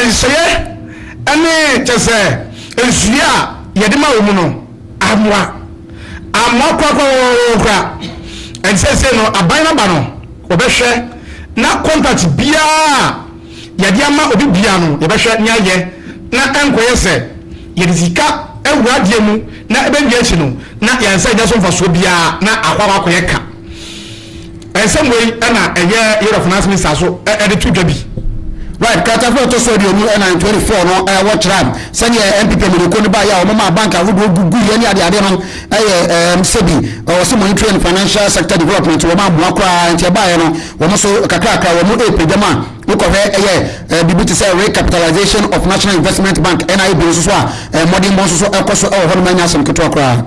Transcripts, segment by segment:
Nsɛeɛ ne kyerɛ sɛ nsuyɛ a yɛde ma wo mu no ammoa. Ammoa korakorakoraa koraa. Ɛnti seesei no aban no aba no wɔbɛhwɛ na contract biara a yɛde ama obi biara no yɛbɛhwɛ ne ayɛ na ɛnkɔyɛ sɛ yɛde sika awura adeɛ mu na ɛbɛwie akyi no na yɛansan anya so mfasoɔ biara na akɔ akɔyɛ ka. Nsɛm wei na ɛyɛ Year of Nas Misa so de to dwa bi. Right, kratafoɔ ɛtɔ so aduonu ɛnan, 24, no wɔ kyerɛ a sɛdeɛ NPP amanyɔkuo no baeɛ a wɔn maa bank ahodoɔ guguiɛ ne adeade no ɛyɛ ɛɛm sɛbi ɔwɔ sɛ monetary and financial sector development wɔn amoa koraa nti ɛbaeɛ no wɔn nso kakrakra wɔn ɛrepagya mu a wokɔhwɛ ɛyɛ ɛɛ biribi te sɛ recapitalization of National Investment Bank NIB nso so a ɛɛ mmɔdenbɔ nso so ɛkɔ so ɛwɔ hɔ nom ɛnyɛ asɛm ketewa koraa.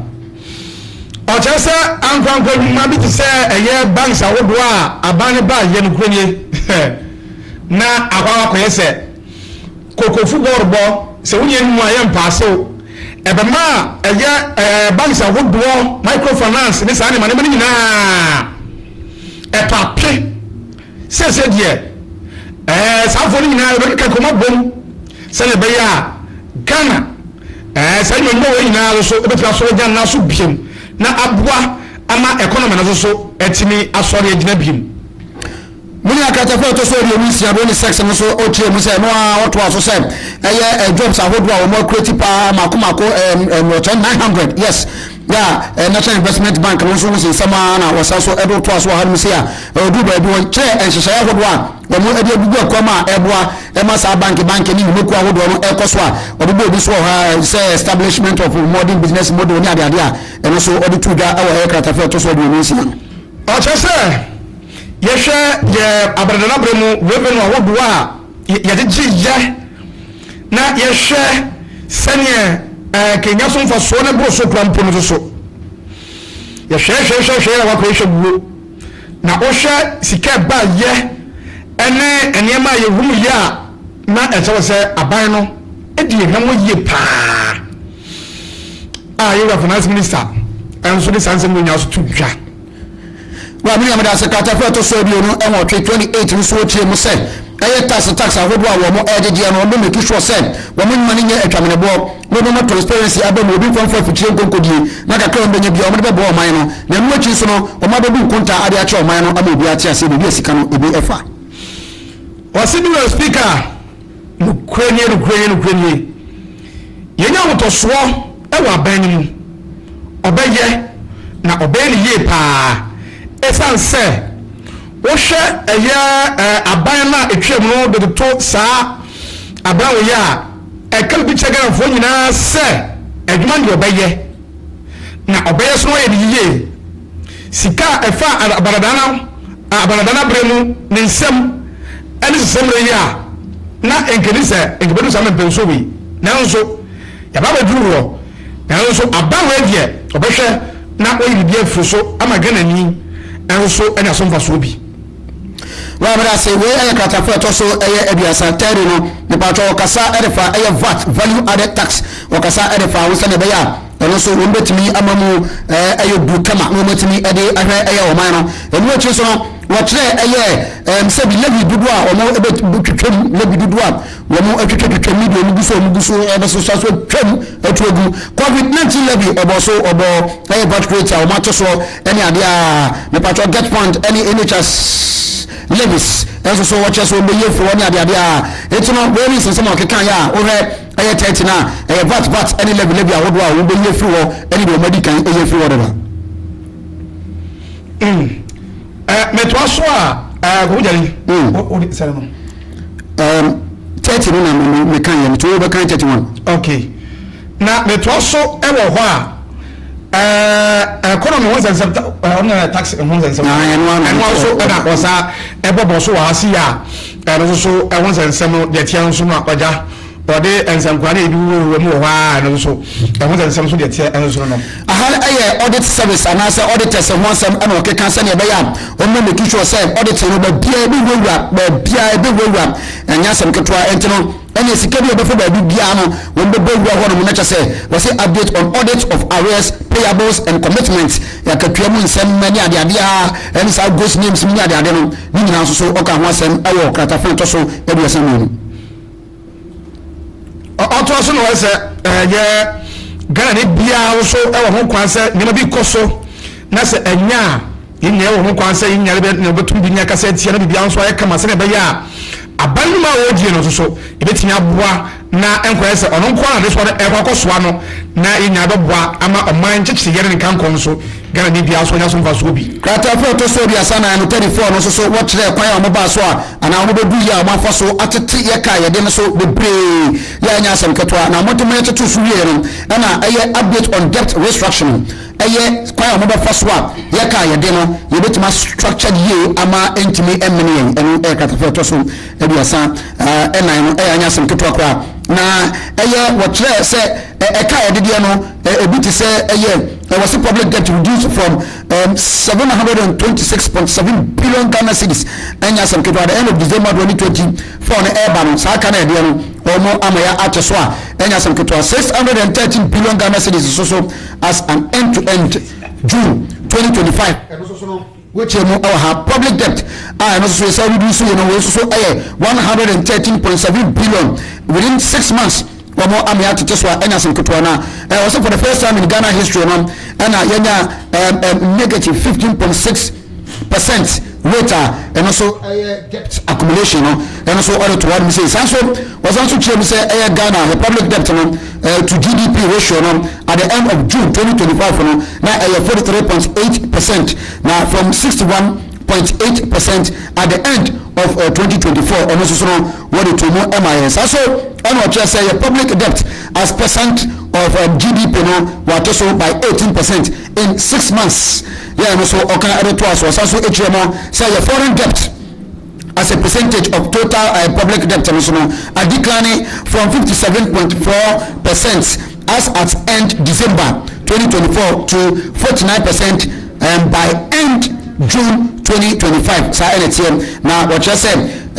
Ɔkyerɛ sɛ ankorankoro nnwuma bi te sɛ ɛyɛ banks ahodoɔ a aban no baa yɛ nokorɛ nie na akɔ akɔyɛ sɛ kokofu bɔɔlobɔ sɛ wonyɛ no mu a yɛ mpaasew ɛbɛma ɛyɛ banks ahodoɔ microfinance ne saa nneɛma nneɛma no nyinaa ɛpa pe sɛsɛ deɛ ɛɛ saafoɔ no nyinaa yɛbɛkeka kɔma bom sɛdeɛ ɛbɛyɛ a Ghana Ɛɛ, sɛ yenya wei nyinaa so so, ebetumi asɔre agyina ne nan so bio na aboa ama economy no nso so atumi asɔre agyina bio. Me nua Carter fã a ɛtɔ so aduonu nsia bere ne sex no nso ɔkyerɛɛ mu sɛ ɛno ara ɔtoaa so sɛ ɛyɛ ɛɛ jobs ahodoɔ a wɔn akurati paa mako mako ɛɛ mmorɔkyɛ nine hundred yes yɛ a ɛɛ National Investment Bank no nso ho se nsɛm ara na wɔsan so ɛde toa so wɔ hanom sei a ɛɛ ɔduru baabi wɔkyerɛ nhyehyɛeɛ ahodoɔ a Wɔde agugu ɛkɔm a ɛboa ma saa banki banki ne nnwumakuo ahodoɔ no ɛkɔ so a ɔde bɔɔ bi so wɔ hɔ ara sɛ establishment of modern business model ne adeade a ɛno nso ɔde too dwa wɔ ɛyɛ kratafa a ɛtɔ so aduonu nsia no. Ɔkyerɛ sɛ yɛhwɛ yɛ abrɛdɛnabrɛ mu revenue ahodoɔ a yɛde gye yɛ na yɛhwɛ sɛdeɛ ɛkenya so mfasoɔ ne boro so kora mpo no nso so yɛhwɛɛhwɛɛhwɛɛhwɛɛ na wakɔ yɛhwɛ wuo. Na wohwɛ sika a ɛba yɛ ne nneɛma a yɛhunu yɛ a, na ɛsɛ wɔ sɛ aban no di yɛn hwɛ ho yie paa. A yɛwura finance minister nso de saa nsɛm nyinaa so to dwa. Wɔ a me nua meda ase, krataa foforo a ɛtɔ so aduonu nwɔtwe, 28, no so wotie mu sɛ, Ɛyɛ tax tax ahodoɔ a wɔn ɛgyegyeɛ no wɔn bɛ make sure sɛ wɔn nnwuma no nyɛ atwameneboɔ na wɔn bɛma transparency aba mu obi mfa mfa afikyire nkonkodie na kakra a wɔn bɛnya biara wɔn de bɛboa ɔman no na ɛno akyi nso no wɔn abɛbu nkontaa ade akyerɛ ɔman no ama obiara ate aseɛ baabi a sika no ebi ɛfa. Ɔse Mister Speaker, nokorɛ nie, nokorɛ nie, nokorɛ nie. Yɛnya ahotɔsoɔ wɔ abɛn no mu. Ɔbɛyɛ, na ɔbɛyɛ no yie pa ara, ɛsiane sɛ wohwɛ ɛyɛ aban no a ɛtwaam no de toto saa aban wei a, ɛka biribi kyerɛ Ghanafoɔ nyinaa sɛ adwuma no deɛ ɔbɛyɛ, na ɔbɛyɛ so na wayɛ no yie. Sika a ɛfa Abanadana a Abanadana bere mu ne nsɛm ne sesamire yi a na ɛnkɛdi sɛ ɛnkɛbɛdu saa mɛmpɛnsoɔ wei nanso yɛaba abɛduru hɔ nanso aba wei deɛ ɔbɛhwɛ na wayi biribi afiri so ama Ghanani nso anya so mfasoɔ bi. Wɔ abere ase wei ɛyɛ kratafo ɛtɔ so ɛyɛ aduasa, tɛɛdu, no, mepaatwɔ ɔkasa ɛde fa ɛyɛ vat, value added tax, ɔkasa ɛde fa ho sɛdeɛ ɛbɛyɛ a. Ɛno nso wɔn bɛtumi ama mu ayɛ duru kama na wɔn atumi de ahwɛ ɛyɛ ɔman no. Ɛno akyi nso no, wɔkyerɛ ɛyɛ ɛm sɛ bi Levi dodoɔ a wɔn ɛbɛtwitwam, Levi dodoɔ a wɔn atwitwatwitwam ne deɛ wɔn gu so wɔn gu so ɛbɛsosa so atwam atu agu. Covid 19 Levi ɔbɔ so ɔbɔ ɛyɛ birth rate a wɔn ato soɔ ɛne adeɛ a mepatwɔ get point ɛne NHS Levis ɛnso so wɔkyerɛ so wɔn bɛyi afiri hɔ ne adeadeɛ a eti no various nsɛm a wɔkeka yɛ a wohwɛ ɛyɛ tɛɛte no a ɛyɛ vat vat ne lɛbi lɛbi ahodoɔ a wɔbɛyi afiri hɔ ne deɛ wɔadi kan ɛyi afiri hɔ dada mm. mɛtoa so a kɔmɔgyare wode sɛre no tɛɛte no na meka yɛ meto wobɛkan tɛɛte one okay na mɛtoa so wɔ hɔ a economy ho nsɛnsɛm ɔno na tax ho nsɛnsɛm ɛno nso ɛna ɔsa ɛbɔbɔ so wɔ ha si yɛ a Ɛno nso so, ɛho nsɛnsɛm no de teɛ nso ma ɔgya. Wɔde nsankora ne ebi wowɔwowɔ mu wɔ hɔ ara a ɛno nso so, ɛho nsɛnsɛm nso de teɛ nso no nom. Aha no yɛ audit service anaasɛ auditors ho asɛm na wɔkeka sɛnea ɛbɛyɛ a wɔbɛma making sure sɛ audit no baabiara ɛbɛwurawura, baabiara ɛbɛwurawura. Ɛnyɛ asɛm ketewa. Enti no, ɛnneɛ sika bi a ɛbɛfa baabi biara no, wɔbɛbɔ awura hɔnom na kyerɛ sɛ wɔse update on audit of arrears, payables and commitments, akatua mu nsɛm ne adeade a ɛne saa gross names mu ne adeade no. Ne nyinaa nso so ɔkaa ho asɛm wɔ kratafa a ɛtɔ so aduasa mmienu. Ɔtoa so na ɔyɛ sɛ ɛyɛ Ghanani biara nso wɔ ho kwan sɛ nneɛma bi kɔ so na sɛ ɛnyɛ a yɛn nyinaa wɔ ho kwan sɛ yɛn nyinaa bɛ na wɔbɛtum de nya kasa atia na biribiara nso ayɛ kama sɛnea ɛbɛyɛ a aban nnwuma a wɔredie no nso so ɛbɛtumi aboa na ɛnkɔyɛ sɛ ɔno nko ara na ne sɔre rekɔ akɔsoa no na yɛn nyinaa bɛboa ama ɔman nkyekyereɛ ne ne nkankɔn so Ghanani biara nso anya so mfasoɔ bi. Krataafo a ɛtɔ so aduasa na ɛno, 34, no nso so wɔkyerɛɛ kwan a wɔbaa so a anaa wɔbɛduu yɛ a wɔafa so atete yɛ kaa yɛde no so bebree yɛ a ɛnyɛ asɛm ketewa na wɔde ma yɛtotoo so wieeɛ no na ɛyɛ Update on Debt Restructure no ɛyɛ kwan a wɔbɛfa so a yɛ kaa yɛde no yɛbɛtumi a structured yie ama ɛntumi mmene yɛn. Ɛno yɛ krataafo a ɛtɔ so aduasa nnan no yɛ anyɛ asɛm ketewa koraa, na ɛyɛ wɔkyerɛɛ sɛ ɛka a yɛde deɛ no ebi te sɛ ɛyɛ wɔsi public debt reduced from um, seven hundred and twenty six point seven billion Ghana cedis ɛnyɛ asɛm ketewa the end of December twenty twenty four no ɛreba no saa ka no ɛdeɛ no wɔn ama yɛ akyɛ so a ɛnyɛ asɛm ketewa six hundred and thirteen billion Ghana cedis so so as an end to end June twenty twenty five. Wokyerɛ mu wɔ ha, public debt a ɛno nso so yɛsan reduce yi no, wei nso so yɛ one hundred and thirteen point seven billion within six months, wɔn amea atete so a ɛnyɛ asɛm ketewa na eh, wɔsɛ for the first time in Ghana history no ɛna yɛnya um, um, negative fifteen point six percent rate a ɛno so ɛyɛ debt accumulation no ɛno so ɔde to hɔ nom sei saa nso Ɔsan nso kyerɛɛ mu sɛ ɛyɛ Ghana yɛ public debt no to GDP ratio no at the end of June twenty twenty five no na ɛyɛ forty three point eight per cent na from sixty one point eight per cent at the end of twenty twenty four ɔno nso so no wɔde to mu ma yɛn saa so ɛna ɔkyerɛ sɛ yɛ public debt as percent of um, GDP no wɔato so by eighteen per cent in six months yɛn no so ɔka ɛde to aso ɔsan so ekyirɛ mu sɛ yɛ foreign debt. as a percentage of total uh, public debt no so no adecline from 57.4 percent as at end december 2024 to 49 percent um, by end june 2025 saa ɛna teɛ na wɔkyerɛ sɛ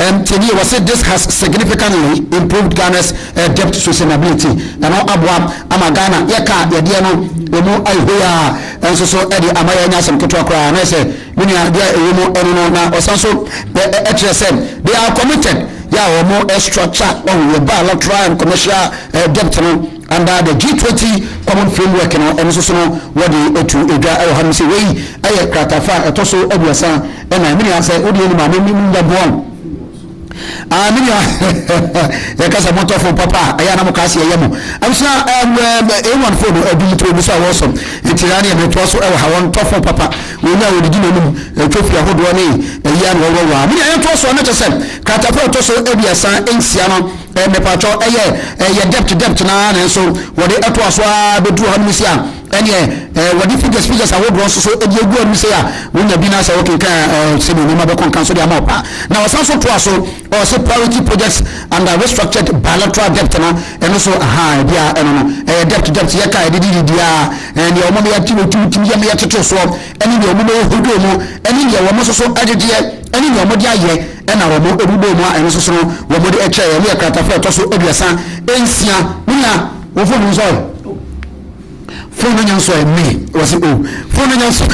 um, tiɛni wɔ sɛ this has significantly improved ghana's uh, debt sustainability na no aboa ama ghana yɛka yɛdeɛ no ɛmu ayɛ hoi a ɛnso so ɛde ama yɛanya asɛm ketewa koraa na ɛsɛ Me nua, deɛ ɛwɔ mu ɛno no, na ɔsan nso ɛkyerɛ sɛ they are committed yɛ a wɔn structure wɔn yɛ bilateral and commercial debt no under the G20 common framework no ɛno nso so no wɔde atu edwa ɛwɔ hanom sɛ wei ɛyɛ kratafa a ɛtɔ so aduasa ɛna me nua sɛ wode yɛ nim a me nya boa Ah, me nua, yɛka sɛ montɔ fon papa a, ɛyɛ a na mokaa se ɛyɛ mo. Abusua, A1 fon no adum to obi so a wɔsɔ. Enti na neɛ metoa so wɔ ha, wɔntɔ fon papa. Wɔnya a wɔdidi n'anom, ɛtwa fi ahodoɔ ne ɛyi a na wɔwɔ wɔ a. Me nua, yɛntoa so a, na kyɛ sɛ kratakorɔ a ɛtɔ so aduasa nsia no, mepatwɔ, ɛyɛ debt debt no ara, nanso wɔde toa so ara bɛduru hanom sei a, Ɛnneɛ eh, wɔde figures figures ahodoɔ nso so de agu anim sei a wonya bi na sɛ wokenkan a eh, sɛdeɛ nneɛma bɛkɔ nka nso de ama wo paa na ɔsan so toa so ɔse priority projects and uh, restructured bilateral debt no ɛno so aha ɛbi a ɛno no ɛyɛ debt debt yɛka ɛde de didi a ɛnneɛ wɔn yɛ ti wɔtum tim yɛ yɛ tete soɔ ɛne deɛ wɔn yɛ hodoɔ mu ɛne deɛ wɔn nso so ɛdedeɛ ɛne deɛ wɔn de ayɛ ɛna wɔn ɛbubɔ mu a ɛno nso so no wɔn de ɛkyɛ ɛne ɛkratafo ɛtɔ so aduasa nsia nina wɔn fɔ mu nsɔre. Phone no nya nso ɛ me wɔ se o phone no nya nso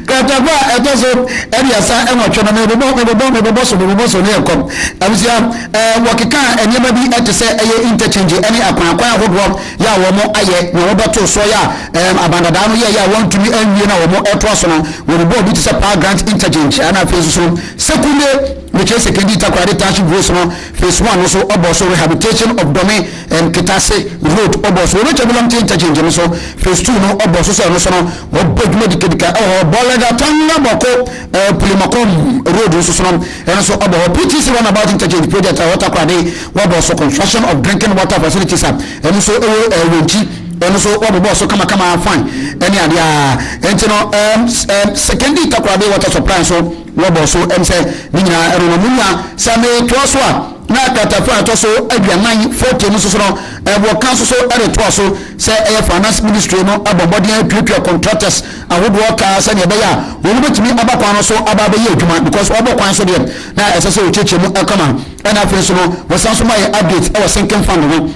Kratabu a ɛtɔ so aduasa nwɔtwe no mebobɔ mebobɔ mebobɔ so mebobɔ so ne yɛ kɔm abusua ɛɛ wɔkekaa nneɛma bi ɛte sɛ ɛyɛ interchange ɛne akwan akwan ahodoɔ yɛ a wɔn ayɛ na wɔbɛto soɔ yɛ a ɛɛm abandadaa no yɛ yɛ a wɔntumi anwie na wɔn ɛtoa so no wɔn bɔɔ bi te sɛ power grant interchange ɛna afei nso so sekunde mekyerɛ sekendi takoradi tashi gross no Phase one no so ɔbɔɔ so rehabilitation of Dome and Kitase road ɔbɔɔ so Owetwa Bulɔmte interchange no so phase two no ɔbɔɔ so sɛ ɔno nso no wɔbɔ dwuma dikadika wɔ hɔ Bɔlɛda Tanga Bɔko Pulimɔkom road nso so no ɛno nso ɔbɔ hɔ PTC runabout interchange project a ɛwɔ Takoradi wɔbɔɔ so construction of drinking water facilities a ɛno nso ɛwɔ Ɛwɛnkyi ɛno nso wɔbɔbɔɔ so kamakama fine ɛne adeɛ a ɛnti no ɛɛm ɛɛm Sekendi Takoradi water supply nso Wɔbɔɔ so ɛm sɛ ne nyinaa ɛno no monya sɛ me toa so a na kratafa a ɛtɔ so aduanan, 40, no soso no wɔ ka soso de toa so sɛ ɛyɛ Finance Ministry no abɔ mmɔden atuatua contractors ahodoɔ ka sɛdeɛ ɛbɛyɛ a wɔn bɛtumi aba kwan no so aba abɛyɛ adwuma because wɔbɔ kwan so deɛ na ɛsɛ sɛ wɔkyekyɛ mu kama ɛna afei nso no wɔsan so ma yɛ update ɛwɔ sinking fund ho.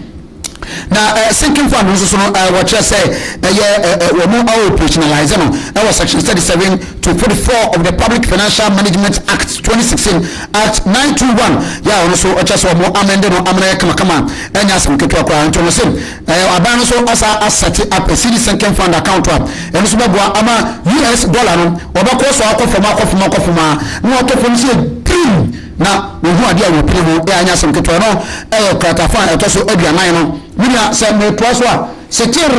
Na eh, sinking fund no nso no eh, wɔkyerɛ sɛ ɛyɛ eh, eh, wɔn operationalize no eh, wɔ section 37 to 44 of the Public Financial Management Act 2016 Act 921 yɛ a wɔn nso ɔkyɛ sɛ wɔn amende no amena yɛ kamakama ɛnyɛ asɛm ketewa koraa nti wɔn se eh, aban no nso asa asɛte up a CD sinking fund account a ɛno nso bɛboa ama US dollar no wɔbɛkɔ so akɔ fam akɔ fam akɔ fam a na wɔtɔ fam sɛ Na mehu adeɛ a wɔpue ho, ɛ anyɛ asɛm ketewa, ɛno yɛ kratafa a ɛtɔ so aduanan no. Me nua, sɛ metoa so a, se kyeerr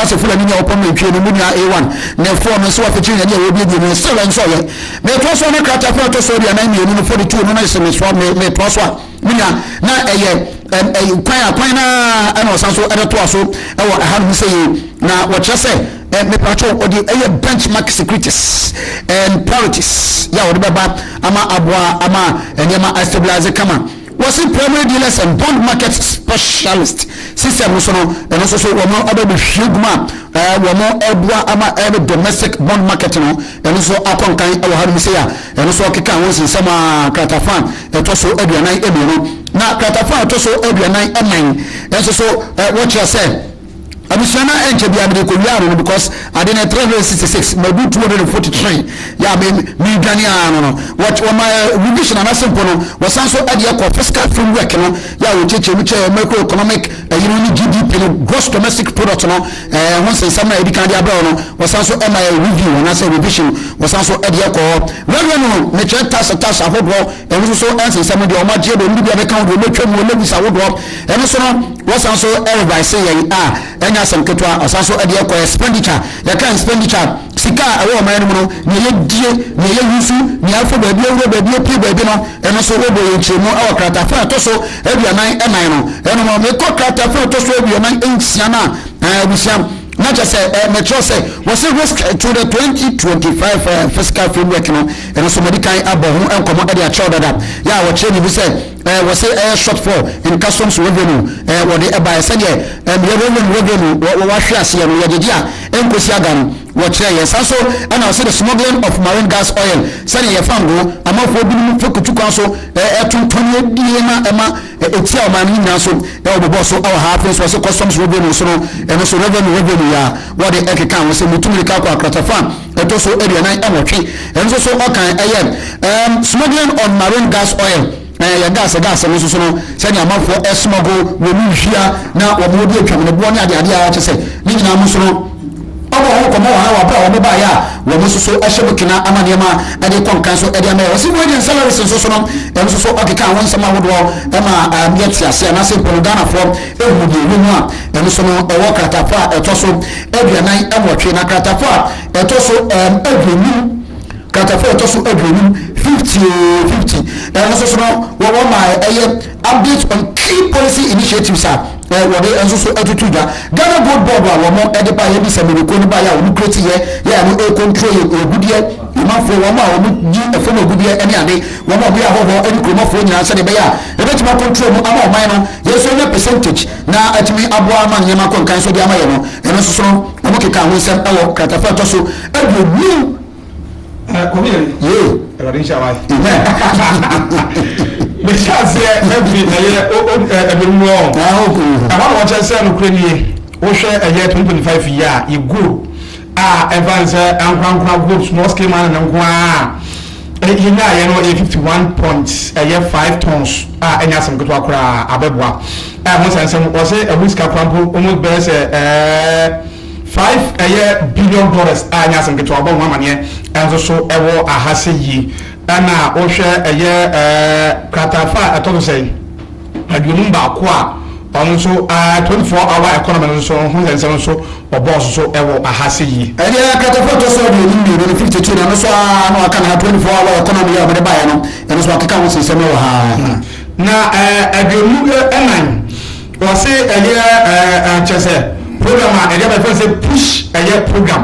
ase Fulani ni a ɔpɔn nantwie no, me nua Ewan, ne foɔ no, se wafe kyeerr nea wɔbuebue no, se wɛnsɔeɛ. Metoa so a, na kratafa a ɛtɔ so aduanan mmienu no, fɔde too no, na se mesoa, me, metoa so a, me nua, na ɛyɛ ɛm, ɛyi, kwan a, kwan no ara na wɔsan so de toa so wɔ ɛhanom seyie. Na wɔkyerɛ sɛ. eh, mepatwo wɔde ɛyɛ benchmark securities and priorities yɛ a wɔde bɛba ama aboa ama nneɛma astabilize kama wɔsi primary dealers and bond market specialist system nso no ɛno nso so wɔn abɛbɛhwie gu mu a eh, wɔn ɛboa ama ɛbɛ eh, domestic bond market no ɛno nso akɔ nkan ɛwɔ ha nom sɛ a ɛno nso ɔkeka ho nsensɛm a kratafa ɛtɔ so aduanan mmienu na kratafa ɛtɔ so aduanan nnan ɛnso so eh, wɔkyerɛ sɛ Abusua na ɛnkyɛ bia mede kɔwiaa no no because ade no yɛ 366 mabu 243 yɛ a meredwane aa no no wɔma revision anase mpo no wɔsan so de yɛ kɔ fiscal framework no yɛ a wɔkyɛkyɛ mu kyɛɛ macroeconomic ɛyi no ne GDP no gross domestic product no ɛɛ ho nsensɛm na ɛdi kan de abrɛ no wɔsan so ɛma yɛ review anase revision wɔsan so de yɛ kɔ wɛwɛ no no mekyerɛ tax tax ahodoɔ Ɛno nso so nsensɛm no deɛ wɔagye deɛ wɔde bi abɛka ho deɛ wɔatwa mu Lewis awodoɔ ɛno so no wɔsan so revise yɛn a ɛnyɛ asɛm ketewa ɔsan so ɛde ɛkɔ expenditure yɛka expenditure sika a ɛwɔ ɔman no mu no nea yɛdie nea yɛyusu nea afo baabi awura baabi apue baabi no ɛno so wɔbɔ yɛn nkyerɛmu ɛwɔ kratafa a ɛtɔ so aduanan ɛnan no ɛno no mekɔ kratafa a ɛtɔ so aduanan nsia no a abusua na kyɛ sɛ mɛkyerɛ sɛ wɔse risk to the 2025 fiscal framework no Ɛno nso madi kan abɔ ho nkɔmmɔ de akyerɛw dada yɛ a wɔkyerɛ me mu sɛ wɔse ɛyɛ short fall nkasom so wawura mu wɔde baeɛ. Sɛdeɛ mmerɛ wɔwura mu wawura mu wɔahwe aseɛ no yɛgyegye a ɛnkosi aga no wɔkyerɛ yɛn. Saa nso na wɔse the smuggling of marine gas oil sɛdeɛ yɛfa ngo amanfoɔ binom fekutu kwan so tontɔn yɛ die na ɛma ɛtia ɔman no nyinaa nso wɔbobɔ so wɔ ha. Afei nso wɔse customs wawura mu nso no ɛno nso wawura mu wawura mu yɛ a wɔde ɛkeka ho sɛ mutu mmirika akɔ akratafa ɛtɔ so aduanan nwɔtwe nso so ɔkan ɛyɛ um, smuggling on marine gas oil ɛyɛ gas gas no nso so no sɛnea amanfoɔ ɛsmuggle wɔn mu nhwia na wɔn wɔde atwa wɔn boɔ ne adeade a kyɛ sɛ ne nyinaa mu nso no ɔbɔ wɔn kɔmɔ wɔn a wɔabra wɔn baeɛ a wɔn nso so ɛhyɛ mu kena ama nneɛma ɛde kɔ nkan so ɛde ama yɛ wɔsi mu agent salaries nso so no ɛno nso so ɔkeka wɔn nsɛm ahodoɔ ɛma ɛyɛ te ase anaasɛ mpono ghanafoɔ ɛhu deɛ ɛwɔ mu a Ɛno so no, ɔwɔ kratapo a ɛtɔ so aduanan nwɔtwe, na kratapo a ɛtɔ so um aduonum, kratapo a ɛtɔ so aduonum, fifty o, fifty. Ɛno so so no, wɔ wɔma ɛyɛ updates on key policy initiatives a eh, wɔde ɛnso so atutu dwa. Ghana Gold Board a wɔn ɛde ba yɛ bi sɛ mmiriko no ba yɛ a wɔn kreti yɛ yɛ a no ɛkontrol yɛ ogudeɛ nyimafoɔ wɔn a wɔn di ɛfam ogudeɛ ɛne ade wɔn a wɔyɛ ahɔhoɔ ɛne kuromafoɔ nyinaa sɛdeɛ ɛbɛyɛ a ɛbɛtumi akontrol mu ama ɔman no yɛn nso yɛ percentage na atumi aboa ama nneɛma akɔ nkan so de ama yɛn no, ɛno nso so no, wɔkekaa ho nsɛm wɔ kratafa a ɛtɔ so aduonu Eh, kɔmi yɛ mi. yee ɛwɛde nhyɛ awa yi. amen mehyɛ aseɛ ɛfiri ɛyɛ o o ɛ ɛbɛn mu ɔ na ɔkò ɛhɔ na wɔkyɛ sɛ nokorɛ nie wohwɛ ɛyɛ twenty twenty five yi a yɛguo a ɛfa ne sɛ ankorankora group small scale mining no nko ara a yɛnyaeɛ no yɛ 51 point ɛyɛ 5 tons a ɛnyɛ asɛm ketewa koraa abɛboa a ɛho sɛ nsɛm ɔsɛ ɛho sika koraa mpo almost bɛyɛ sɛ ɛɛ 5 ɛyɛ billion dollars a ɛnyɛ asɛm ketewa ɔbɔ ho amaneɛ ɛnso so ɛwɔ aha sɛ yi ɛna wohwɛ ɛyɛ ɛɛ kratafa a ɛtɔ so sɛ Aduonum baako a ɔno nso aa 24 hour economy no nso ho nsɛnsɛm nso ɔbɔɔ so so wɔ aha sɛ yie. Ɛdeɛ katafo a ɛtɔ so aduonum mmienu no firi tete no ɛno nso aa na waka ne ha 24 hour economy yi a wɔde baeɛ no ɛno nso wakeka ho nsɛnsɛm wɔ ha. Na aduonum nnan wɔse ɛyɛ aa kyerɛ sɛ program a ɛde aba yɛfrɛ no sɛ push ɛyɛ program.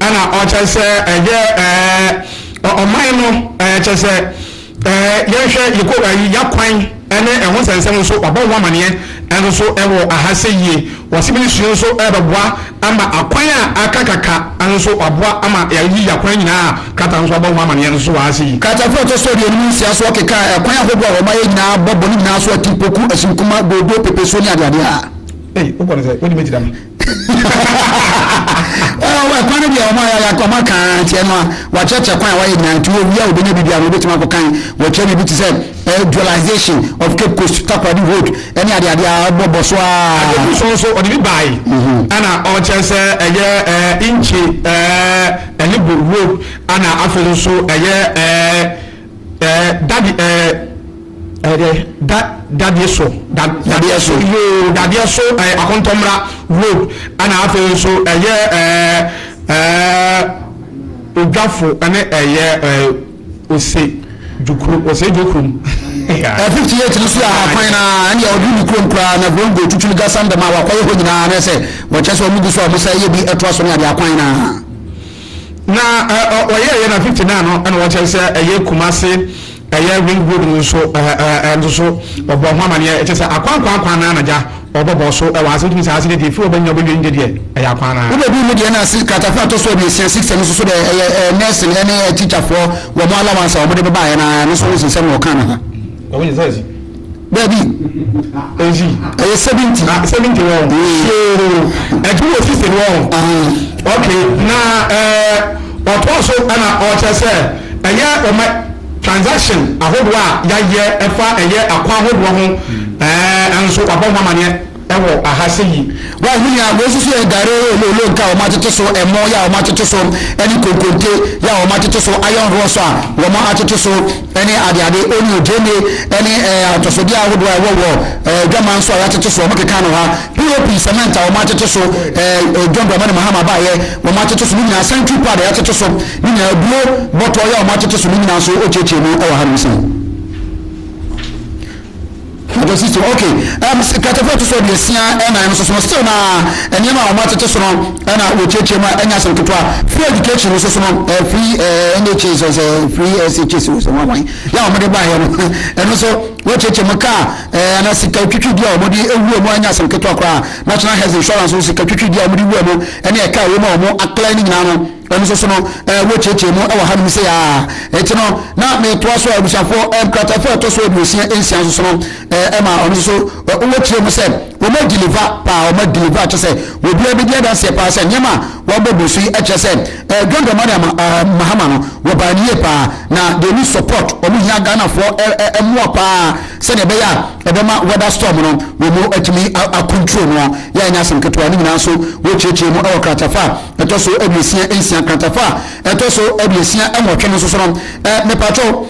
na ɔkyɛ sɛ ɛyɛ ɛɛ ɔman no ɛɛ kyɛ sɛ ɛɛ yɛhwɛ yɛkɔ ɛyi yakwan ɛne ɛho nsɛnsɛm nso wabɔ ho amaneɛ ɛnso so ɛwɔ aha sɛ yie wɔsi minisiri nso ɛbɛboa ama akwan a aka kaka ɛnso so waboa ama yɛyi yakwan nyinaa krataa nso abɔ ho amaneɛ ɛnso so wɔ aha sɛ yie. Kratafoɔ a ɛtɔ so aduonu mu nsia so ɔkekaa ɛkwan ahodoɔ a wɔayɛ nyinaa bɔ bɔne nyinaa so atimpoku, asunkumma, doodo, pepesuo ne adeade a. Ei, wokɔ no sɛ, wode mɛti dama. Ɛkwan no deɛ wɔn ayɛ ayɛ wɔn aka ara nti ɛno a wɔakyerɛkyerɛ kwan a wɔayɛ nyinaa nti wɔwia a wɔbɛnya biribi a wɔbɛtumi akɔ kan wɔakyerɛ biribi te sɛ ɛɛ dualization of Cape Coast takoradi hold ɛne ade ade a ɛbɔ bɔ so aa. Adeku so nso ɔde bi baae ɛna ɔkyerɛ sɛ ɛyɛ ɛɛ inkye ɛɛ ɛne bɔ road ɛna afei nso ɛyɛ ɛɛ. Eh daddy eh eh eh da dadeɛ so da dadeɛ so yoo dadeɛ so eh akɔntɔmmra road ɛna afei nso ɛyɛ eh eh odwafo ɛne ɛyɛ eh ose dwokuro ose dwokurom Eh, 58 no so yɛ ahakwan na ɛne ɔde ne kurom koraa na kurom go tutu no gasam dɛm a wakɔyɛ hɔ nyinaa na sɛ wɔkyɛ sɛ ɔmo gu so a ɔmo sɛ yɛ bi ɛtoa so ne ade akwan na na wɔyɛɛyɛ na 59 no ɛna wɔkyerɛ sɛ ɛyɛ Kumase ɛyɛ ring road no nso ɛnso so ɔbɔ ho amaneɛ ɛkyɛ sɛ akwankwan kwan no anagya ɔbɔbɔ so ɛwɔ ase wotumi sɛ ase deɛ ɛfiri ɔbɛnya ɔbɛwie no deɛ ɛyɛ akwan no wobɛduru mu deɛ na ase kratafoɔ atɔ so aduosia six ɛno nso so deɛ ɛyɛ nɛɛsen ɛne tikyafoɔ wɔn alawansa wɔn de bɛbaeɛ no ɛno nso wosensɛm na ɔka no ho Dabi, ezi ɛyɛ seventy ah seventy wɔn yoo ɛdi wɔ sisi wɔn ok na ɛɛ ɔtɔ so ɛna ɔkyɛ sɛ ɛyɛ ɔmɛ transaction ahodoɔ a yɛayɛ ɛfa ɛyɛ akwa ahodoɔ ho ɛɛ ɛnso wabɔ ho amaneɛ. wɔ aha sɛ yi. Woahu nea wei nso so yɛ? Gare yɛ olo, olo nka a wɔatete so, ɛmo yɛ a wɔatete so, ne konkonte yɛ a wɔatete so, iron rods a wɔatete so, ne adeade, onion, gyeene, ne atɔsodeɛ ahodoɔ a ɛwɔ wɔ adwaman nso a wɔatete so, wɔkeka no ha, POP, cement a wɔatete so, dwambrama ne mahama baeɛ, wɔatete so ne nyinaa, sanitary pad a wɔatete so ne nyinaa, aburo bɔtɔ yɛ a wɔatete so ne nyinaa nso, ɔkyekyee mu wɔ hanom sɛn. Ɔtɔ si so, okay. Ɛm, s- Nkratafoɔ a ɛto so aduosia ɛnan no nso so no, still na nneɛma a wɔatete so no na wɔkyerɛkyerɛ mu a ɛnyɛ asɛm ketewa. Free education nso so no, eh, free eh, NHS or sɛ free SHS or sɛ wɔn wɔn yɛ a wɔde baeɛ no, ɛno nso wɔkyerɛkyerɛ mu kaa eh, ana sika twitwidi a wɔde ewura mu a ɛnyɛ asɛm ketewa koraa. National Health Insurance nso sika twitwidi a wɔde wura mu ɛne ɛka a wɔn a wɔn akla ne nyinaa no. Ɛno nso so no, eh, wɔkyerɛkyerɛ mu wɔ hanom sɛ aa. Ɛti no, na metoa so a abusuafoɔ eh, nkratafoɔ a ɛtɔ so aduosia nsia nso so no, eh, ɛma ɔno nso so eh, wɔkyerɛ mu sɛ wɔma deliver paa, wɔma deliver kyɛ sɛ wɔbiara bɛdi adanseɛ paa sɛ nneɛma a wɔabɔ bu so yi ɛkyerɛ sɛ eh, John Dramani ama, ah, Mahama no wɔbaa ne yie paa na they need support, wɔn hia Ghanafoɔ eh, eh, eh, mmoa paa sɛdeɛ ɛbɛyɛ a ɛbɛma weather storm no wɔn atumi akontro no a yɛanya asɛm ketewa ne nyinaa nso wɔkyerɛkyerɛ mu wɔ kratafa ɛtɔ so aduosia nsia nkratafa a ɛtɔ so aduosia nwɔtwe no nso so no eh, mepatwɔ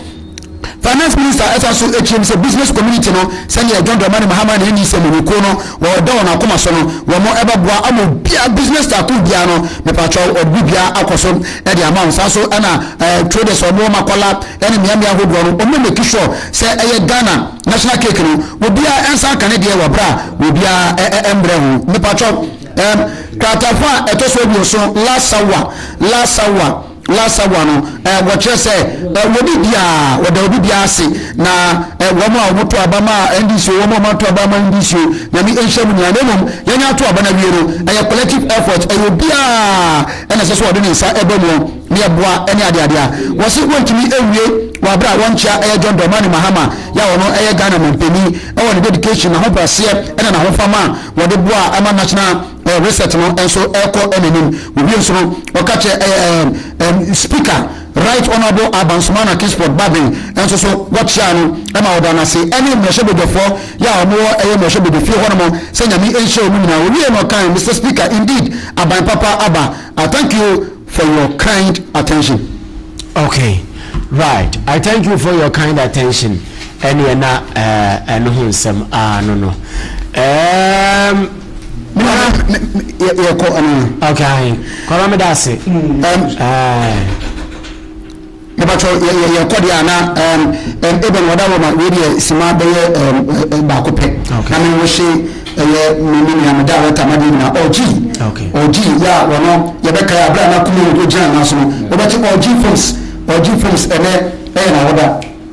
finance minister ɛsan so akyerɛ mu sɛ business community no sɛdeɛ john dramani mahama na ɛni sɛ mmukuo no wɔda wɔn akoma so no wɔn mo ɛbɛboa ama obia business taako biara no mepatwɔ ɔde biara akɔ so ɛde ama wɔn saa so ɛna ɛɛ traders wɔn wɔn akɔla ɛne mmeammea ahodoɔ no wɔn mɛki sure sɛ ɛyɛ ghana national cake no obiara ɛnsa ka ne deɛ wɔ bra obiara ɛɛ ɛmbrɛ ho mepatwɔ Ɛɛm, Kratafa a ɛtɔ so aduoson, Lasawa, Lasawa, Lasawa no, ɛɛ, wɔkyerɛ sɛ ɛɛ, wɔdi biara, wɔda obi biara ase, na ɛɛ, wɔn a wɔto aba ma NDC o, wɔn a wɔato aba ma NDC o, Nyame nhyira mo nyinaa, na mmom yɛn ato aba no awie no, ɛyɛ collective effort, ɛyɛ obiara ɛna ɛsɛ sɛ ɔde ne nsa ɛbɔ mu na yɛboa ɛne adeade a wɔsi wɔntumi awie wɔ abere a wɔnkyea ɛyɛ John Dramani Mahama yɛ a ɔno ɛyɛ Ghana manpanin ɛwɔ ne dedication, n'ahobraseɛ ɛna n'ahofama a Wɔde boa a ɛma national research no nso kɔ n'anim. Wɔwie nso no, wɔka kyerɛ Speaker Right Honourable Abansumana Kingsford Bagbin nso so wɔkyeaa no ma wɔdaa no ase ne mmarahyɛbadwafoɔ yɛ a wɔwɔ ɛyɛ mmarahyɛbadwafie hɔ nom sɛ Nyame nhyira wɔn nyinaa. Wɔwieɛ na ɔkae, Mister Speaker, indeed Aban papa aba. I thank you. for your kind attention. Ok right I thank you for your kind attention ɛneɛ na eh, ɛno ho nsɛm ah, no no um, yɛkɔ anaa ok kɔra meda ase um, uh, Mepakyɛw, yɛ, yɛ, yɛkɔ deɛ a, na, ɛɛm, ɛɛm, ebɛn, wɔda hɔ ma, wei deɛ, sima bɛyɛ, ɛɛm, ɛ, baako pɛ. Okay. Na me nwo hye, ɛyɛ, me, me nua, me director, m'adeɛ nyinaa, Orji. Okay. Orji, ya, wɔno, yɛbɛkae a, berɛ a na Kumalo nkogyina yɛn nan so no, wobɛte Orji Films, Orji Films, ɛnnɛ, ɛyɛ n'awoda.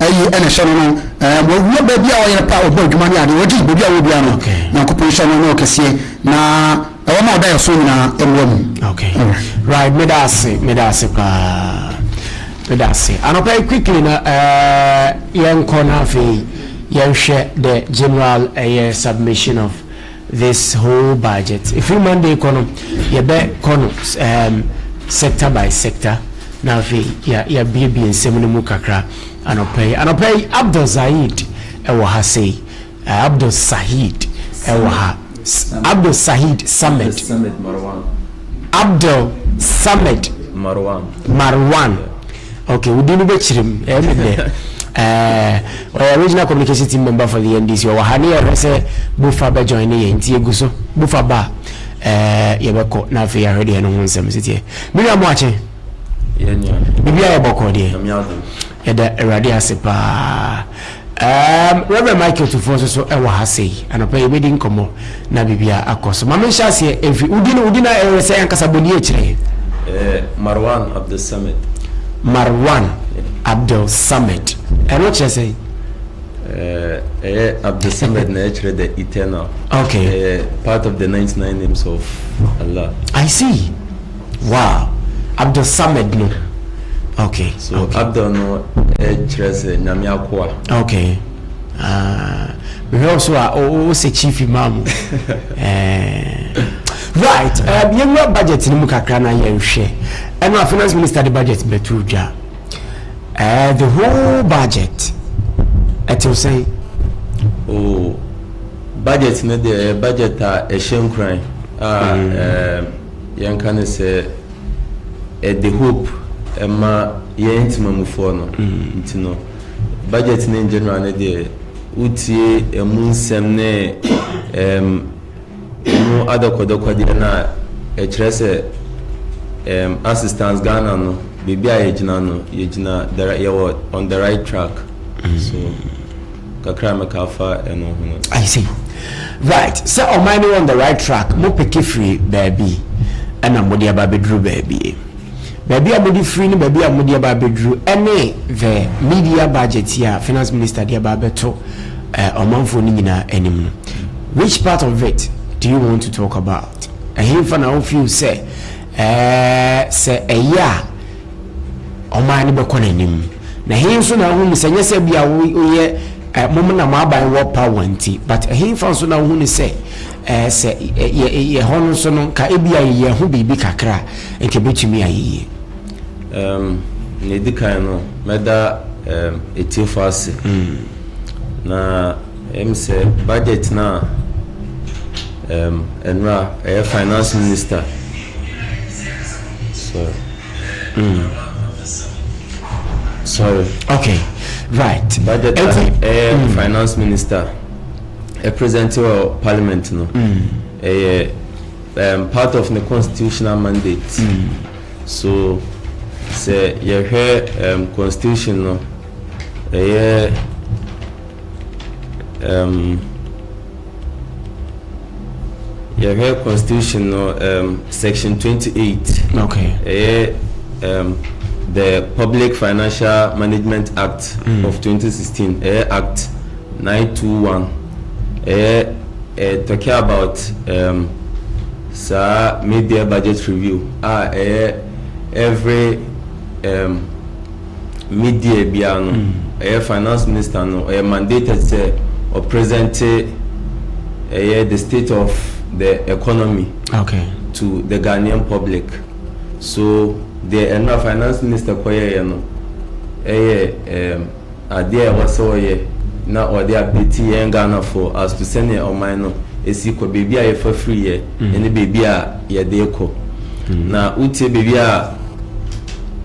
Ayi na ɛhyɛ no no eh, wɔ wɔ baabi a ɔyɛ pa ɔbɔ adwuma ne adeɛ ɔgye baabi a ɔwɔ biara no okay. Nyankopɔn nhyɛ no ne ɔkɛseɛ na ɛwɔ ma ɔda ɛso nyinaa ɛmmoa mu okay. Alright. Right, meda ase meda ase paa meda ase anɔpa yi quickly na uh, eh, yɛnkɔ na afei yɛnhwɛ the general ɛyɛ eh, submission of this whole budget ɛfiri Monday kɔ no yɛbɛ kɔ no um, sector by sector na afei yɛabiebie nsɛm no mu kakra anɔpa yi anɔpa yi Abdul Zaid ɛwɔ ha sei uh, Abdul Sahid ɛwɔ ha Abdul Sahid Samed Abdul Samed Marwan Marwan Okay, wo din no bɛkyerɛ mu ɛyɛ me dɛ ɔyɛ regional communication team member for the NDC ɔwɔ ha ne yɛhwɛ sɛ bofa bɛjoin ne yɛ nti ɛgu so bofa ba a yɛbɛkɔ na afei yɛahwɛ deɛ ɛno ho nsɛm siteɛ me nua mo akye biribiara yɛ bɔkɔɔ deɛ yɛda awurade ase paa Ɛɛm, Reverend Michael Tufoɔ nso so wɔ ha sei. Anɔpa yi yɛbɛdi nkɔmmɔ na biribiara akɔ so. Ma menhyɛ aseɛ mfi wo din, wo din a ɛyɛ sɛ ankasa bɔ nie kyerɛ yɛn. Eh, Marwan Abdul Samad. Marwan Abdul Samad. Ɛno kyerɛ sɛn? Eh, ɛyɛ Abdul Samad na ɛkyerɛ the eternal. Okay. Ɛyɛ part of the 99 names of Allah. I see. Wow Abdul Samad no ok. So Abdul no kyerɛ sɛ Nyame akoa. Ok ah mehwɛ wo so a wo sɛ chief imam right yɛwura budget no mu kakra na yɛnhwɛ ɛno a finance minister de budget bɛto dwa the whole budget ɛtew sɛn oh budget no deɛ budget a ɛhyɛ nkuran a yɛnka no sɛ ɛde hope ɛma yɛn ntimamufoɔ no nti no budget no in general no deɛ wotie ɛmu nsɛm ne ɛm ɛmu adɔkɔdɔkɔdeɛ no a ɛkyerɛ sɛ ɛm assistance Ghana no baabi a yɛgyina no yɛgyina yɛwɔ on the right track so. kakra a mɛka afa ɛno ho no. I see. Right. Sɛ ɔman no on the right track, mo peke firi baabi ɛna mo de aba abɛduru baabi. Baabi a mo de firi ne baabi a mo de aba abɛduru ɛne the media budget a finance minister de aba abɛto eh, ɔmanfoɔ no nyinaa anim no. Which part of it do you want to talk about? Ɛhenfa na wo feel sɛ eh, sɛ ɛyɛ a wɔn ara ne bɛkɔ n'anim. Na ɛhe nso na wohu ne sɛ nyɛ sɛ bi a woyɛ eh, mom na mo aban wɔ pa wɔn nti but ɛhe nfa nso na wohu ne sɛ eh, sɛ yɛ hɔ no nso no nka ebi a yɛyɛ ho biribi kakra nka ebetumi ayɛ yie. Um, na edi kan no mɛda um, etiefo ase mm. na Em sɛ budget no a em ɛnora ɛyɛ finance minister sorry mm. sorry okay right budget a ɛyɛ mm. finance minister ɛ present wɔ parliament no mm. ɛyɛ um, part of the constitutional mandate mm. so sɛ yɛhwɛ um, constitution no ɛyɛ Ɛɛm, yɛhwɛ constitution no um, section 28. Okay. Ɛyɛ um, the Public Financial Management Act mm. of 2016. Ɛyɛ Act 921. Ɛyɛ uh, talking about um, saa mid-year budget review. Ah, ɛyɛ every um, mid year biara no ɛyɛ finance minister no ɔyɛ mandated sɛ ɔpresente ɛyɛ the state of the economy okay. to the Ghanaian public so deɛ ɛno a finance minister kɔyɛeɛ no ɛyɛ um, adeɛ a ɛwɔ sɛ ɔyɛ na ɔde apeti yɛn Ghanafoɔ as to sɛnea ɔman no ɛsi kɔ baabi a yɛfa firi yɛ ɛne baabi a yɛde kɔ na wotie baabi a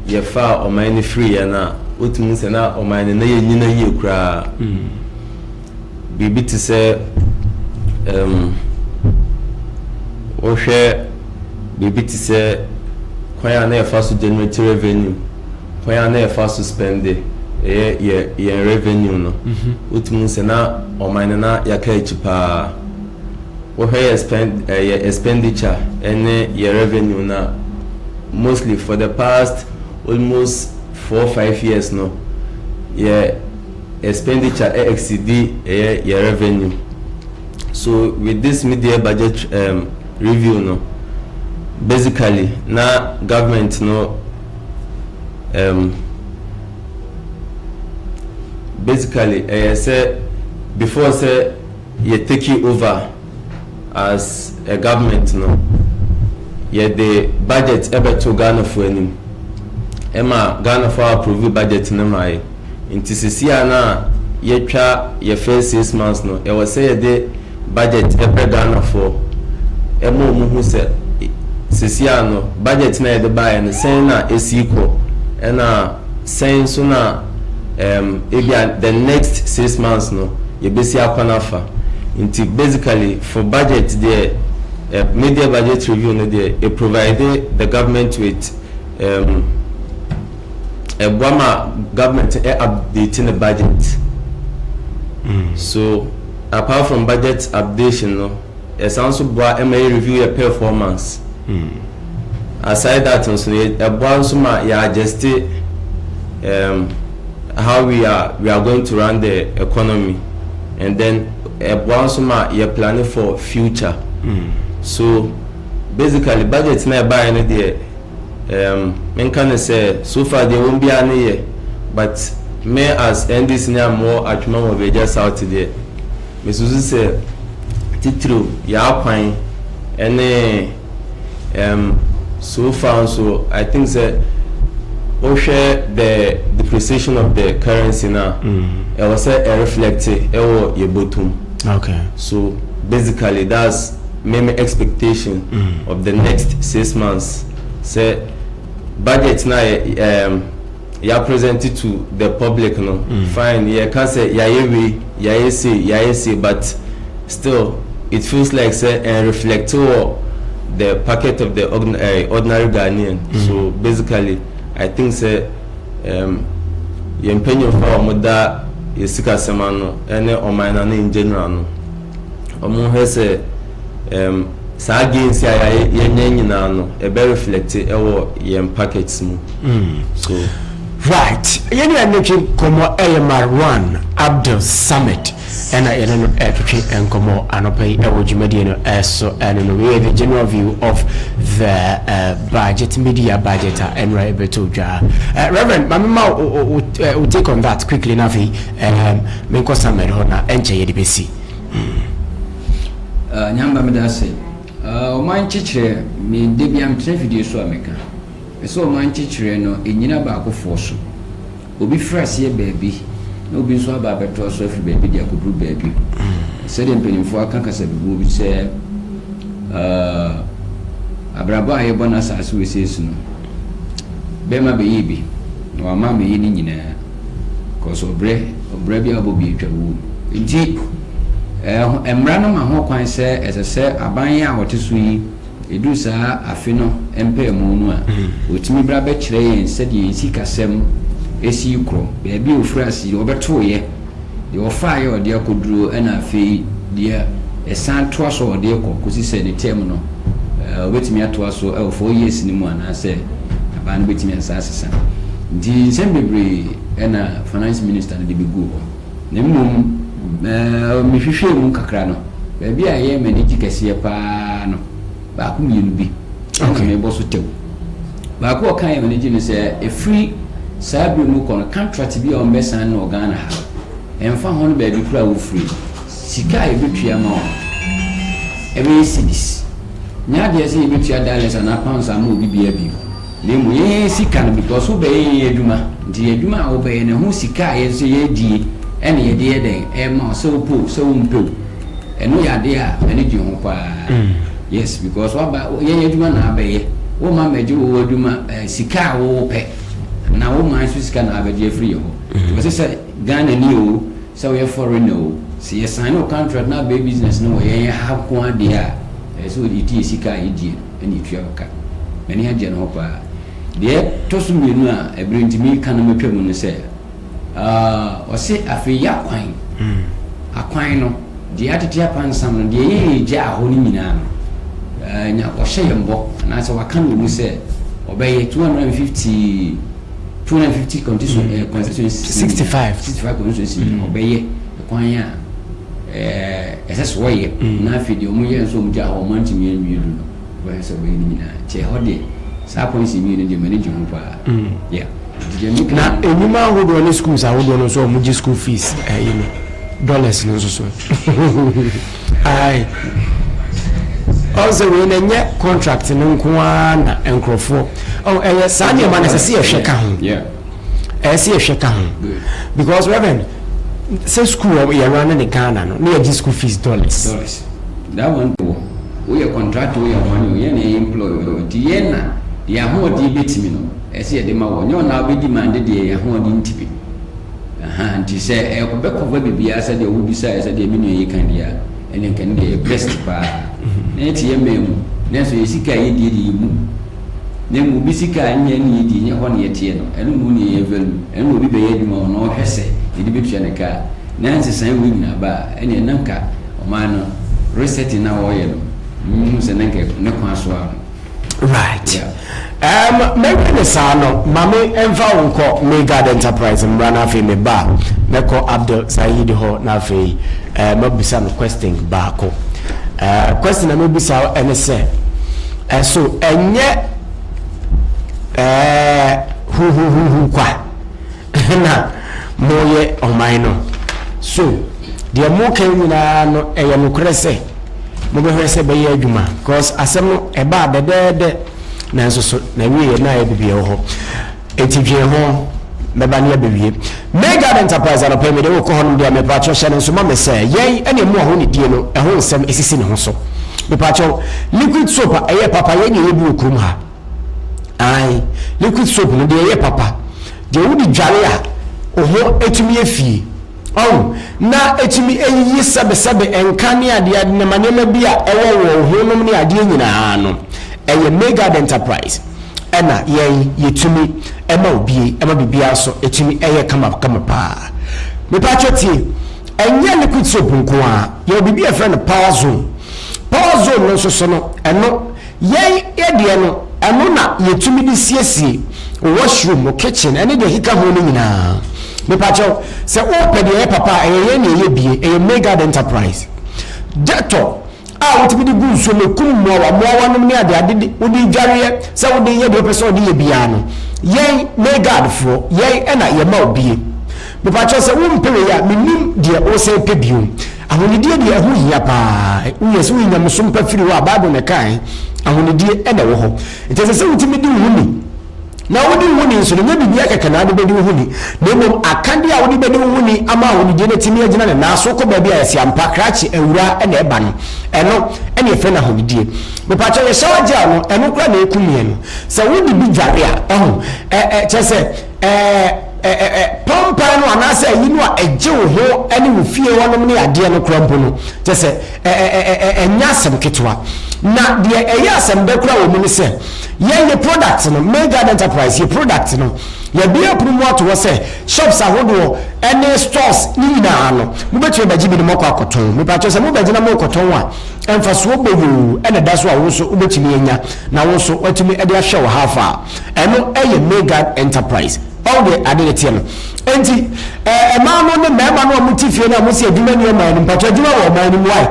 yɛfaa ɔman no firi yɛn a wotumi sɛ na ɔman no na yɛnyina yie koraa mm. biribi te sɛ um, wohwɛ biribi te sɛ kwan a na yɛfa so generate revenue kwan a na yɛfa so spende ɛyɛ yɛn revenue no mm-hmm. wotumi sɛ na ɔman no na yɛaka akyi paa Wohwɛ yɛ spend eh, yɛ expenditure ne yɛ revenue no a, mostly for the past almost four five years no, yɛ expenditure eh, exceedi ɛyɛ yɛ revenue. So with this mid-year budget um, review no, basically na government no um, basically ɛyɛ sɛ before sɛ Yɛ taking over as a government no, yɛde budget bɛto Ghanafoɔ anim, ɛma Ghanafoɔ a approve budget no ma yɛ. Nti sisi a na yɛatwa yɛ first six months no, ɛwɔ sɛ yɛde budget brɛ Ghanafoɔ, ɛma wɔn hu sɛ sisi a no, budget no a yɛde baeɛ no, sɛn na ɛsi kɔ, ɛna Sɛn nso na um ebia the next six months no yɛbɛsi akwan afa. Nti basically for budget deɛ, um mid-year budget review no deɛ, it provide the government with um ɛboa ma government ɛ update ne budget. So apart from budget updation no, Ɛsan nso boa ma yɛ review yɛ performance. Aside that nso no, ɛboa nso ma yɛ adjust um, how we are we are going to run the economy and then ɛboa nso ma yɛ planning for future. So basically budget na ɛbaeɛ no deɛ. Erm menka no sɛ so far deɛ wɔn biara no yɛ but me as NDC ni a me wɔ Atwema wɔ Abɛgya South deɛ me susu sɛ titiriw yɛ akwan ɛne erm so far nso I think sɛ wo hwɛ the depreciation of the currency no a mm. ɛwɔ sɛ ɛreflect ɛwɔ yɛ bɔtom okay so basically that's Me me expectation of the next six months sɛ budget na yɛ um, yɛ present to the public no mm. fine yɛ ka sɛ yɛayɛ wei yɛayɛ se yɛayɛ se but still it feels like sɛ and reflect wɔ the packet of the eh, ordinary Ghanaian mm. so basically I think sɛ um, yɛn mpanyinfoɔ a wɔn da yɛ sikasɛm ano ɛne ɔman no ano in general no. wɔhwɛ sɛ um saa gains a yɛnyɛ nyinaa no ɛbɛ reflect ɛwɔ yɛn packets mu. Mm. so right yɛn nyinaa ne twe nkɔmmɔ ɛyɛ marwan abdul samad ɛna yɛne no ɛtwetwe nkɔmmɔ anɔpa yi ɛwɔ dwumadie no ɛso ɛne no wei the general view of the uh, budget media budget a ɛnora ɛbɛtɔ dwa uh, reverend mamema wo take on that quickly na afei Ehm menkɔ Samuel hɔ na ɛnkyɛ yɛde bɛsi mm. Ah, Nyamba meda ase. Ah, ɔman nkyekyerɛ, me da biara metena afidie so a meka. Ɛsɛ ɔman nkyekyerɛ no ɛnyina baakofoɔ so. Obi firi aseɛ baabi na obi nso aba abɛtoa so afiri baabi de akɔduru baabi. Sɛdeɛ mpanimfoɔ aka kasabibuo bi sɛ, ah, abrabɔ a yɛbɔ no asase wesee so no, bɛma bɛyɛ bi na wama amɛyɛ ne nyinaa cause ɔbrɛ ɔbrɛ bi a ɔbɔ bi atwa wuo nti ɛɛ mmara no ma ho kwan sɛ ɛsɛ sɛ aban a wɔte so yi ɛduru saa afe no mpaamu no a wɔtumi mm. bra bɛkyerɛ yɛn sɛdeɛ yɛn sikasɛm ɛsi korɔ baabi a ɔfiri ase ɔbɛtoeɛ deɛ wɔfaeɛ a wɔde akɔduro ɛna afei deɛ ɛsan toa so a wɔde rekɔ kɔsi sɛ ne term no wɔbɛtumi atoa so wɔ four years no mu anaasɛ abaa no bɛtumi ansa asesa. Nti nsɛm bebree ɛna finance minister no de bɛguu hɔ na mmom mehwehwɛɛ mu kakra no baabi a ɛyɛ m'ani gye kɛseɛ paa no baako mmienu bi ɛna mebɔ so tɛw. Baako a ɔka yɛ mene gye ne sɛ ɛfiri saa berɛ mu kɔ no contract bi a wɔn bɛsan no wɔ Ghana ha ɛmfa ho no baabi koro a wofiri sika a yɛbɛtua ma wɔn ɛbɛyɛ cedis nyɛ adeɛ sɛ yɛbɛtua dollars anaa pounds ama obi biara bio. Na mmom yɛn yɛn sika no because wo bɛyɛ yɛn adwuma nti yɛn adwuma a wo bɛyɛ no ɛho sika a yɛn nso yɛn die ɛna yɛde yɛ dɛn ɛma wo sɛ wo pɛ o sɛ wo mpɛ o ɛno yɛ adeɛ a m'ani gye ho paa yes because waba yɛn yɛn adwuma na abɛyɛ wo ma mɛgye wo adwuma ɛɛ sika a wo pɛ na wo man nso sika na abɛgye afiri yɛ hɔ nti wɔsi sɛ Ghana ni o sɛ wɔyɛ foreigner o sɛ yɛ sign no contract na abɛyɛ business no wɔ yɛn yɛn ha nko adeɛ a ɛsɛ wɔde tie sika a yɛ die no. na etua wo ka. M'ani agye no ho paa. Deɛ ɛtɔ so mmienu a ɛberɛ nti meka na matwa mu no sɛ, uh, ɔse afei yɛ akwan. Mm. Akwan no, deɛ atete apansam no, deɛ yɛregyaa hɔ no nyinaa no, uh, nya ɔhyɛ yɛn bɔ, anaasɛ waka no wɔ mu sɛ ɔbɛyɛ 250 250 constitution, mm. uh, constituency, 65 65 constituency, mm. ɔbɛyɛ ɛkwan a Eh, ɛsɛ sɛ wɔyɛ mm. na afei deɛ wɔyɛ nso wɔn gya hɔ wɔn antumi anwie du no wɔyɛ sɛ wɔyɛ ne nyinaa kyɛ hɔ deɛ saa pɔnsi mmienu no deɛ m'ani gye ho paa mm. yeah na enyima ahodoɔ ne schools ahodoɔ no nso wɔn gye school fees ɛyi eh, no dollars no nso so ayi ɔsɛ wei na nyɛ contract no nko ara na nkurɔfoɔ ɛyɛ oh, eh, saa nneɛma na ɛsɛ sɛ yɛhwɛ ka ho. ɛyɛ sɛ yɛhwɛ ka ho because reverend sɛ school wɔ yɛ run ne Ghana no ne yɛgye school fees dollars. dollars that one de wɔ woyɛ contractor woyɛ wɔn o yɛn na yɛyɛ employ o nti yɛn na deɛ ahoɔden ebetumi no ɛsɛ yɛde ma wɔ nyɛ ɔna ɔbɛdi maa de deɛ ahoɔden ntumi aha nti sɛ ɛbɛkɔfa biribiara sɛ deɛ wobisa yɛ sɛ deɛ me nua yi kan deɛ a ɛne nka ne deɛ yɛ best paa na yɛte yɛ mmaa mu nanso yɛ sika yɛ die de yɛ mu Na mmom obi sika a nnya nni yɛdi, ɛnyɛ hɔ na yɛteɛ no, ɛno na onii yɛ value, ɛno na obi bɛyɛ adwuma ho na ɔhwɛ sɛ yɛde bɛtua ne ka a, na nsesaeɛ wei nyinaa ba a, ɛnneɛ na nka ɔman no resetting no a wɔreyɛ no, mehu sɛ na nka ne kwan so ara no. Right. Yeah. Um, mɛhwɛ ne saa no, ma me mfa wo nkɔ Megad Enterprise mmra na afei meba a, mɛkɔ Abdel Saeed hɔ na afei uh, mabisa no question baako. Uh, question a mɛbisa wo ɛne sɛ, So ɛnyɛ huhuhuhu kwa na moyɛ ɔman no? So deɛ moka yi nyinaa no ɛyɛ nokorɛ sɛ mobɛhwɛ sɛ ɛbɛyɛ adwuma? Because asɛm no ɛbaa dɛdɛɛdɛ nanso so na wieɛ na ayɛ bibi ɛwɔ hɔ. Enti dwen ho, mɛba ne abewie. May Guard Enterprise anɔpa yi mede wokɔ hɔnom deɛ mepaakyɛw hyɛ no nso ma me sɛ yɛn ɛne ɛmu a honidie no ɛho nsɛm ɛsisi ne ho so mepaakyɛw liquid soap a ɛyɛ papa yɛn deɛ yɛ bi wɔ kurom ha ae liquid soap no deɛ ɛyɛ papa deɛ wode dware a oho ɛtumi afie Ɔn, na etumi yiyi sɛbesɛbe, nka ne adeade nam nneɛma bi a ɛwɔ wɔn ho nom ne adeɛ nyinaa no. Ɛyɛ Maegard Enterprise. Ɛna yɛn yɛtumi ma obie, ɛma biribiara so ɛtumi ɛyɛ kama kama paa. Mepaatwɔ tie, ɛnyɛ liquid soap nko ara, yɛwɔ biribi a yɛfrɛ no power zone. Power zone no nso so no, ɛno. Yɛn deɛ no, ɛno na yɛtumi de siesie washroom, wo kitchen, ɛne deɛ ɛkeka ho no nyinaa. Mepakyɛw, sɛ wopɛ deɛ ɛyɛ papa a, ɛyɛ yɛn na yɛbue, ɛyɛ Maygard Enterprise. Dettol a wotumi de gu nsuo mu, ɛkum mmoawa, mmoawanom ne adeade, wode dwareɛ, sɛ wode yɛ deɛ wopɛ sɛ wode yɛ biara no, yɛn Maygardfoɔ, yɛn na yɛma wobue. Mepakyɛw, sɛ wompɛ wei a, mennim deɛ wosan pɛ bio. Ahonidie deɛ ɛho hia paa. Wohu yɛ sɛ woyɛ nyamesom pa firi hɔ a, Bible na ɛkae, ahonidie na ɛwɔ hɔ. Nti ɛsɛ sɛ wotumi di wo ho ni. Na wodi wo ho ni nso no, nyɛ biribiara kɛkɛ na wode bɛdi wo ho ni, na mmom akadeɛ a wode bɛdi wo ho ni ama ahonidie no atumi agyina ne nan so kɔ baabi a yɛse ampa, krakye awura na ɛba no. Ɛno na yɛfrɛ no ahonidie. Mepaakyɛw, yɛ shower gel no, ɛno koraa na ɛkum yɛn no. Sɛ wode bi dware a, wahu, ɛ, ɛ, kyerɛ sɛ, Ɛɛ, ɛ, ɛ, ɛ, pɔmpae no anaasɛ ayi no a ɛgye wo ho ne wo fie hɔnom ne adeɛ no koraa mpo no, kyerɛ sɛ, ɛ, ɛ, ɛ, ɛ, ɛ, ɛnyɛ asɛm ketewa. Na deɛ ɛyɛ asɛmdɛ koraa wɔ mu ne sɛ, yɛn, yɛ product no, May Garden Enterprise, yɛ product no, yɛabue apono mu ato hɔ sɛ, shops ahodoɔ ne stores no nyinaa no, mobɛtumi abɛgye bi na moakɔ akɔtɔn. Mepakyɛw, sɛ mobɛgye na morekɔtɔn a, mfasoɔ bɔn oo na ɛda so a wo nso wobɛtumi anya, na wo nso woatumi de ahwɛ wo half a. ɛno yɛ Maygard Enterprise ɔn deɛ ade ne teɛ no nti ɛmaa no ne mmarima no a wɔn ti fie no a wɔn si adwuma ni ɔman no mpatwa adwuma wɔ ɔman no mu ayɛ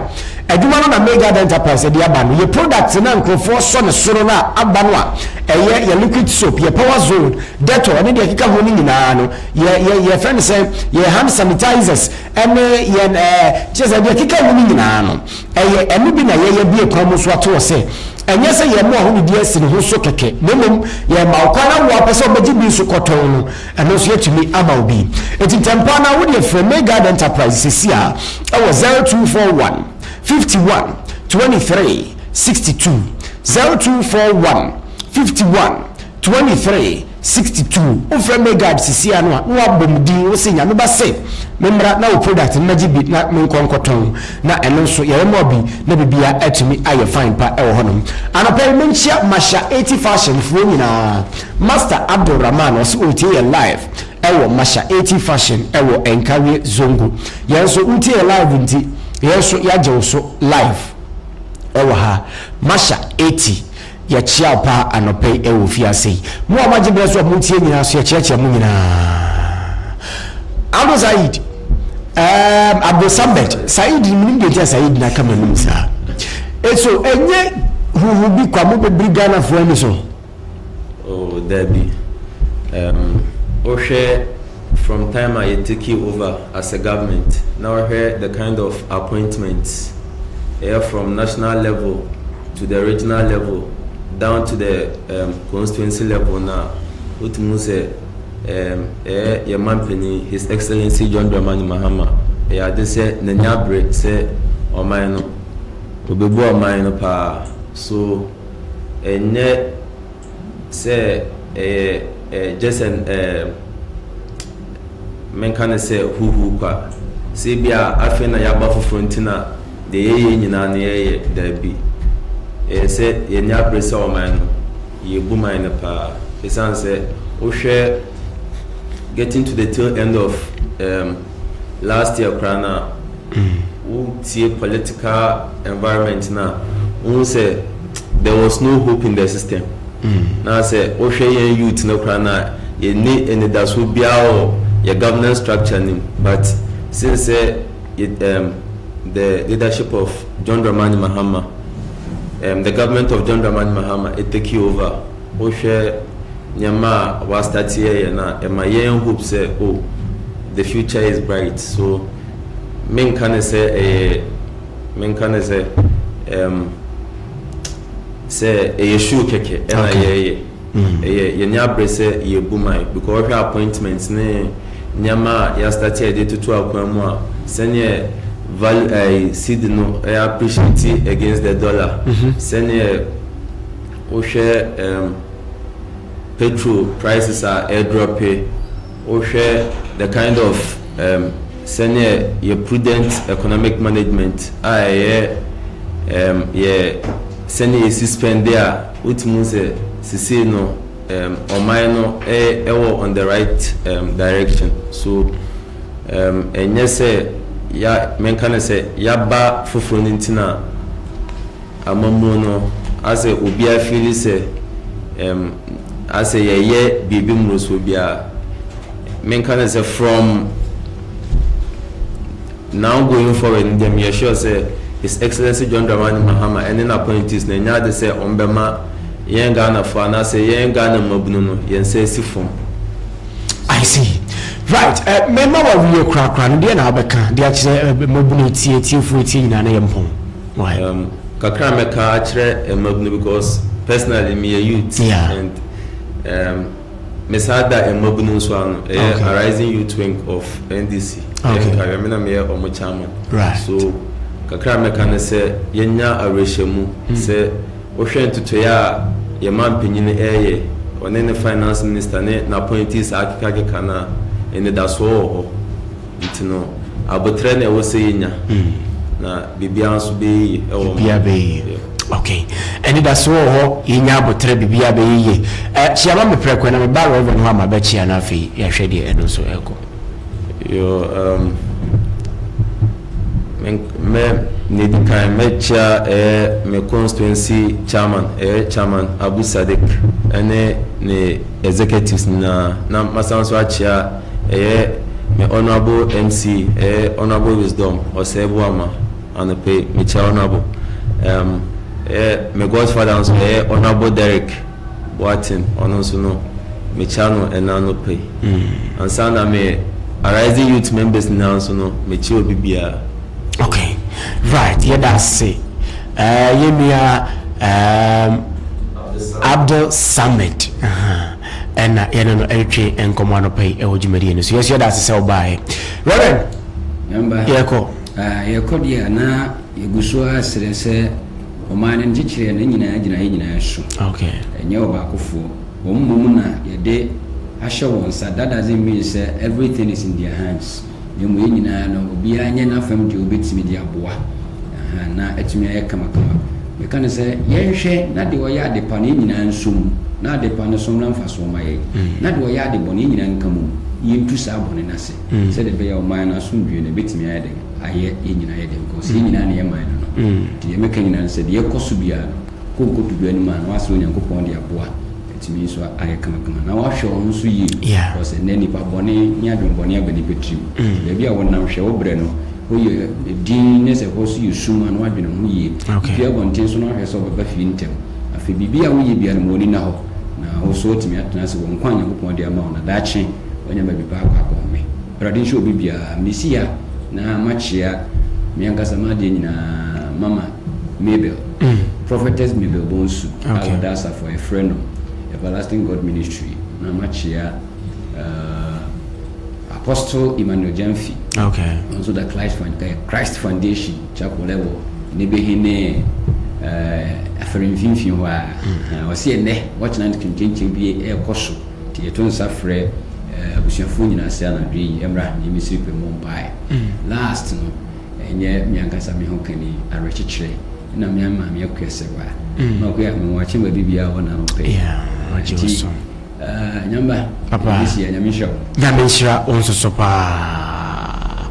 adwuma no na Maygard Enterprise de aba no yɛ product na nkurɔfoɔ sɔ ne soro no a aba no a ɛyɛ yɛ liquid soap yɛ power zone dettol ne deɛ ɛkeka ho no nyinaa no yɛ yɛ yɛ fɛn sɛ yɛ hand sanitizers ɛne yɛn ɛɛ kyerɛ sɛ deɛ ɛkeka ho no nyinaa no Ɛyɛ ɛno bi na yɛyɛ bue kwan mu nso ato hɔ sɛ, ɛnyɛ sɛ yɛn mmoa ho didi asi ne ho so kɛkɛ, na mmom yɛma wo kwan na wo a wopɛ sɛ wobɛgye bi nso kɔtɔn no, ɛno nso yɛatumi ama wo bi. Enti ntɛmpa ara wodeɛ frɛ May Guard Enterprises seesei a wɔ 0241 51 23 62, 0241 51. Twenty three, sixty two, Wo frɛ me guard sisiaa no a, na wabɔ me din, wo se Nyame ba se me mmra na wo product no mɛgye bi na menkɔ nkɔtɔn, na ɛno nso yɛyɛ mɔɔ bi na biribiara atumi ayɛ fine pa wɔ hɔ nom. Anɔpa yi menkyia Masha eighty fashion foɔ nyinaa, Master Abdul Rahman ɔse ɔretie yɛn live wɔ Masha eighty fashion wɔ Nkawie Zongo, yɛn nso wotie yɛn live nti yɛn nso yɛagye wo so live wɔ ha, Masha eighty. Yɛkyea wo paa anɔpa yi ɛwɔ ofie ase yi. Mo a moagye berɛ so a moretie nyinaa nso yɛkyeakyea mo nyinaa. Abdul Saeed, um, Abdul Samad, Saeed no menim deɛ nti a Saeed no aka m'anom saa. Eso, ɛnyɛ huhu bi kwa mobɛbiri Ghanafoɔ ani so. Oh, dabi. Um, wohwɛ From time a yɛ takee over as a government na wo hwɛ the kind of appointments ɛyɛ from national level to the regional level down to the um, constituency level no a, wotumi hu sɛ um, ɛyɛ yɛ manpanin His Excellency John Dramani Mahama ɛyɛ ade sɛ n'ani abere sɛ ɔman no, obebu ɔman no paa so ɛnyɛ sɛ ɛyɛ eh, just an eh, menka no sɛ huhu kwa sɛ bi a afei na yɛaba foforɔ nti na deɛ yɛyɛ nyinaa no yɛyɛ daabi ɛyɛ sɛ yɛne abere sɛ ɔman no yɛbu man no paa ɛsiane sɛ wohwɛ getting to the tail end of um, last year koraa na wo tie political environment na wohu sɛ there was no hope in the system mm. na sɛ wohwɛ yɛn youth no koraa na yɛni anidaso biara wɔ yɛ governance structure nim but since sɛ um, the leadership of john dramani mahama um, the government of john dramani mahama it take you over Wohwɛ nneɛma a wa start yɛ yɛn a ɛma yɛn hope sɛ oh the future is bright so me nka ne sɛ ɛyɛ me nka ne sɛ um, sɛ ɛyɛ show kɛkɛ ɛna okay. yɛyɛ mm. ɛyɛ yɛnyɛ abrɛ sɛ yɛbu man because wɔhwɛ appointment ne nneɛma a yɛastarte a yɛde toto akwan mu a sɛneɛ value ɛɛ eh, seed no ɛyɛ appreciate against the dollar mm-hmm. sɛneɛ wohwɛ um petrol prices a ɛredrɔpe, wohwɛ the kind of um, sɛnea yɛ prudent economic management a ɛyɛ um, yɛ sɛnea yɛsi spɛnde a, wotumi sɛ sisei no um, ɔman no ɛwɔ on the right um, direction. So um, ɛnyɛ sɛ ya menka no sɛ yaba foforɔ no nti na Amamuo no, asɛ obia fiili sɛ ɛm asɛ yɛyɛ biribi mmorosoɔ bi a, menka no sɛ from now going forward no deɛ meyɛ sure sɛ His Excellency John Dramani Mahama ɛne n'appointees no ɛnyɛ ade sɛ wɔn bɛma yɛn Ghanafoɔ anaasɛ yɛn Ghana mmabunu no yɛn nsa asi fam. I see. Right. Eh, mɛma wawie korakora no deɛ na abɛka de akyerɛ eh, mmabunu atie atiefoɔ atie nyinaa na yɛmpɔn. Why? Um, kakra mɛka akyerɛ mmabunu because personally meyɛ youth yeah. and um, mesaa da mmabunu nso ano ɛyɛ okay. arising youth wing of ndc ɛyɛ okay. nkaeɛ me na meyɛ ɔmo chairman right. so kakra mɛka ne sɛ yɛnya awerɛhyɛmu mm. sɛ wohwɛ ntotoeɛ a yɛma mpanyin ɛyɛ ɔne ne finance minister ne n'appointees akekakeka no a ɛnidasoɔ wɔ hɔ Nti no, aboterɛ na ɛwɔ sɛ yɛnya, na biribiara nso bɛyɛ yie wɔ mu. Biribiara bɛyɛ yie. Ok. Anidasoɔ wɔ hɔ, yɛnya aboterɛ, biribiara bɛyɛ yie. Eh, kyea ma me prɛko na meba Rev. hɔ a mabɛkyea na afei yɛahwɛ deɛ ɛno nso ɛrekɔ. Yo, um, me, me, na ɛdi kan, mɛkyea ɛyɛ me constituency chairman, ɛyɛ chairman Abu Sadik, ɛne ne executives nyinaa, na masan nso akyea ɛyɛ me honourable MC ɛyɛ honourable wisdom ɔsɛɛ boama anɔpa yi mekyɛ honourable um, ɛyɛ me godfather nso ɛyɛ honourable Derek Boatin ɔno nso no mekyɛ no ɛna anɔpa yi mm. ansa na me arising youth members nyinaa nso no mekyɛ obi biara. okay right yɛda ase uh, yɛnua um, Abdul Samad uh -huh. Ɛna yɛne no retwe nkɔmmɔ anɔpa yi wɔ dwumadie no so. Yɛso yɛda ase sɛ wobaeɛ. Reverend, Yɛmba. yɛkɔ. Ah, yɛkɔ deɛ a, na yɛgu so ara srɛ sɛ ɔman no nkyekyereɛ no nyinaa gyina yɛn nyinaa su. Ok. Ɛnyɛ ɔbaakofoɔ. Wɔn mmom na yɛde ahyɛ wɔn nsa. That doesn't mean sɛ everything is in their hands. na mmom yɛn nyinaa no, obiara nyɛ n'afam deɛ ɔbɛtumi de aboa aha na atumi ayɛ kamakama. Meka no sɛ, yɛnhwɛ na deɛ ɔyɛ ade pa no yɛn nyinaa nso mu, na ade pa no so mmra mfasoɔ mma yɛn, na deɛ ɔyɛ ade bɔne yɛn nyinaa nka mu mu, yɛntu saa bɔne no ase, sɛdeɛ ɛbɛyɛ a ɔman no asomdwoeɛ no ɛbɛtumi ayɛ dɛn? ayɛ yɛn nyinaa yɛ den, because yɛn nyinaa na yɛ man no no. Nti deɛ mɛka nyinaa ne sɛ, deɛ ɛrekɔ so biara no, kɔ nkɔto dwa no mu a na woasrɛ Onyankopɔn de aboa. Ɛtumi nso ayɛ kamakama na wahwɛ wo ho nso yie. Yeah. Because ɛnɛ nipa bɔne ne adwenbɔne aba nipa tirim. Mm. Baabi a wonam hwɛ wo brɛ no, hɔ yɛ din ne sɛ hɔ so yɛ sum a na wadwene ho yie. Okay. Pia abɔnten so na wahwɛ sɛ ɔbɛba fie ntɛm. Afei biribi a woyɛ biara no ma w'ani na hɔ. Na wo so atumi atena ase wɔ nkwa a Nyankopɔn de ama wo na daakye wanya baabi pa akɔ akɔhome. Awurade nhyɛ obi biara. Mesi ha na makyea me ankasa m'adeɛ nyinaa mama Mabel, Prophetess Mabel Bonsu a wɔda asafo a yɛfrɛ no Everlasting God Ministry na makyea uh, Apostle Emmanuel Gyamfi okay. nso da Christ, eh, Christ Foundation Chapel ɛwɔ ne behene uh, afɛre mfimfini hɔ a ɔsi ɛnɛ wɔkyena nkyɛnkyɛn bi ɛrekɔ so Nti yɛto nsa frɛ abusuafoɔ nyinaa sɛ anadwo yi ɛmmra ha ne Misiri pɛ mmɔ mpaeɛ. Last no, ɛnyɛ me ankasa me ho kani, awerɛkyekyerɛ na me ama me akua sɛ wa. Na ɔkɔ yɛ me wakye ma bibi a ɔna ɔpɛ. Nti nyamba, ɛbɛsi yɛ nyame nhyira wo. Nyame nhyira wo nso so paa.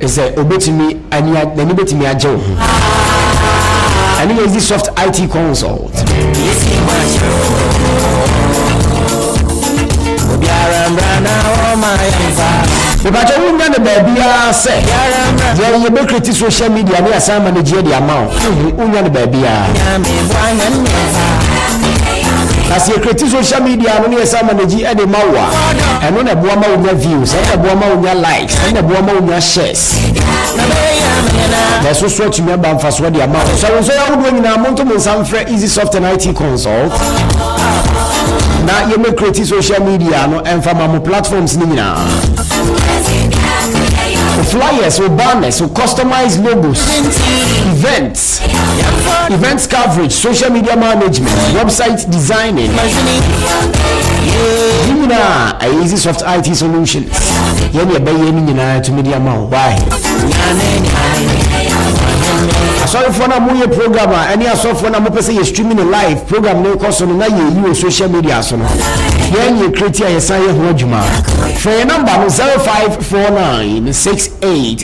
Sɛ obetumi ani a n'ani betumi agye wo ho. Ɛne yɛ Easy Soft IT Consult. Yesi makyerɛ obiara mbra na ɔma yɛn fa. Mepatwa wo nya no baabiara sɛ yɛn yɛ bɛkreti social media ne asan managyeɛ de ama wo. Wo nya no baabiara. Nyame bɔ anyɛ mmɛfa. na sɛ yɛkreti social media no ne yɛsa managyi de ma wo a ɛno na ɛboa ma wonya views ɛno na ɛboa ma wonya likes ɛno na ɛboa ma wonya shares na ɛso so atumi aba mfasoɔ de ama wo sɛ wo nsɔ yɛ ahodoɔ nyinaa monto mo nsa mfrɛ easy soft and it consult na yɛmɛkreti social media no ɛmfa ma mo platforms no nyinaa flyers, banners, customized logos, event, events coverage social media management website designing ne nyinaa ɛyɛ easy soft it solutions yɛne ɛbɛyɛ no nyinaa tumi de ama wo why asɔrefoɔ no a moyɛ program a ɛne asɔrefoɔ no a mopɛ sɛ yɛ streaming no live program no kɔ so no na yɛyi wɔ social media so no yɛn yɛ kreti a yɛsan yɛ ho adwuma frɛ yɛ namba no 0549 68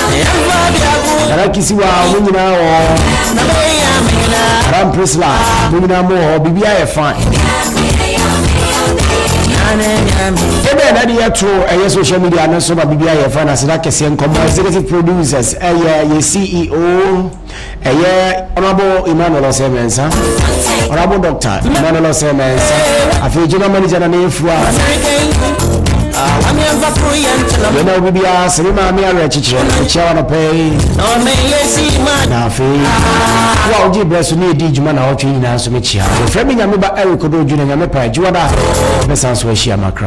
Dara Kisiwa, mo nyinaa wɔ Dara Mprisla, mo nyinaa mo wɔ biribi ayɛ fine. Ebe na de yɛtoro ɛyɛ social media no so ma biribi ayɛ fine aseda kɛseɛ nkɔmmɔ executive producers ɛyɛ yɛ CEO Ɛyɛ Honourable Emmanuel Osei Mensah, Honourable Doctor Emmanuel Osei Mensah, afei General Manager na ne efua. Yɛn a obi biara sɛ me maame awerɛkyekyerɛ ɛkyia wa nɔpɛ yi. Na afei wo a wogye berɛ so ne ɛdi dwuma na wɔtwe nyinaa nso mekyia. Wɔfrɛ me nyame ba Eric Odo Junior nyame pa adwuma da bɛsan so ahyia makra.